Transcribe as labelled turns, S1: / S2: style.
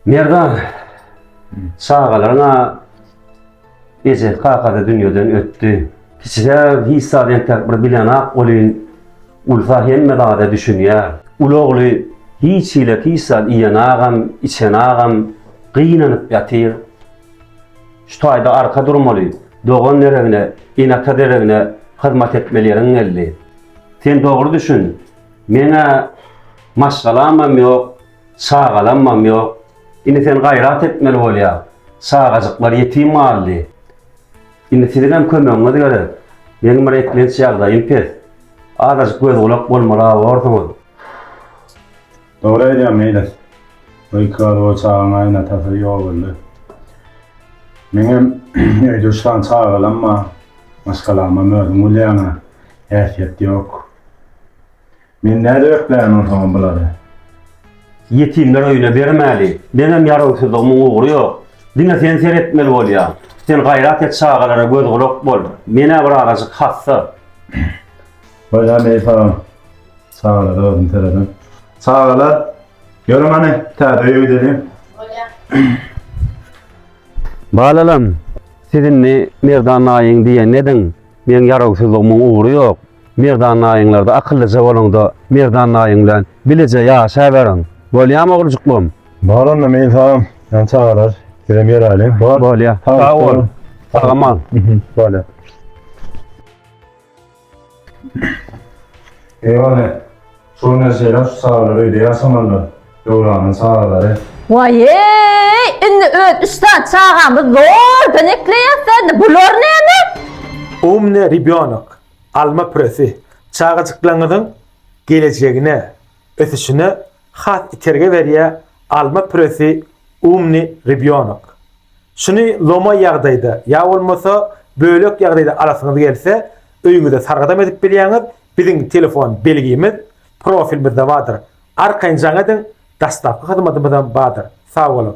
S1: Merdan, çagalaryň-a ejesi, kakasy dünýeden ötdi. Kiçijä hiç zat entäk bir bilenok welin, ulusa hemme zada düşünýär. Uly ogly hiç hili hiç zat iýenogam, içenogam, gynanyp ýatyr. Şu taýda arka durmaly. Dogan deregine, ene-ata deregine hyzmat etmeli ýeriň geldi. Sen dogry düşün, men-ä maşgalamam ýok, çagalammam ýok. Indi sen gaýrat etmeli bolýaň. Çagajyklar ýetim galdy. Indi siziňem kömegiňiz gerek. Meniň bir eklenç ýagdaýym pes. Azajyk göz-gulak bolmaly-a borsuňyz.
S2: Dogry aýdýaň Meýlis. Gykyga dur çagaň aýna tasyry ýok öldü. Meňem öýde üç sany çagalam bar. Maşgalamam özüň bilýäňä häsiýet ýok. Men nädip ekläýen onsoňam bulary.
S1: Ýetimler öýüne bermäli. Meňem ýarawsyzlygymyň ugry ýok. Diňe sen seretmeli bolýaň. Sen gaýrat et çagalara göz gulak bol. Menä bir azajyk hassa.
S2: Baýram eý salam. Çagalara özüm seredem. Çagalar, görüň hany, täze öýe gidelim.
S1: Balalam, siz indi Merdan naýyň diýenini ediň. Meň ýarawsyzlygymyň ugry ýok. Merdan naýyňlarda akyllyja boluň-da, Merdan naýyň bilen bileje ýaşaberiň. Bolýamy, oglujyklarym? Balanam eý
S2: salam. Ýa çagalar, sizem ýöräliň. Bolýar. Sag
S1: bol. Salam al. Bolýar.
S2: Eýwane, şol näşeler şu çagalar öýde ýaşamandyr, Döwranyň çagalary. Waýeý,
S3: indi öz üç sany çagamyz zordan ekleýäs-dä indi, bular näme? Umny
S4: ribýonok, alma püresi, çagajyklaryňyzyň gelejegine ösüşine has itergi berýär Alma püresi Umny rybýonok. Şuny lomaý ýagdaýda ýa bolmasa bölek ýagdaýda alasyňyz gelse, öýüňizde sargadam edip bilýäňiz, biziň telefon belgimiz profilimizde bardyr. Arkaýyn jaň ediň, daşdapky hyzmadymyzam bardyr. Sagboluň!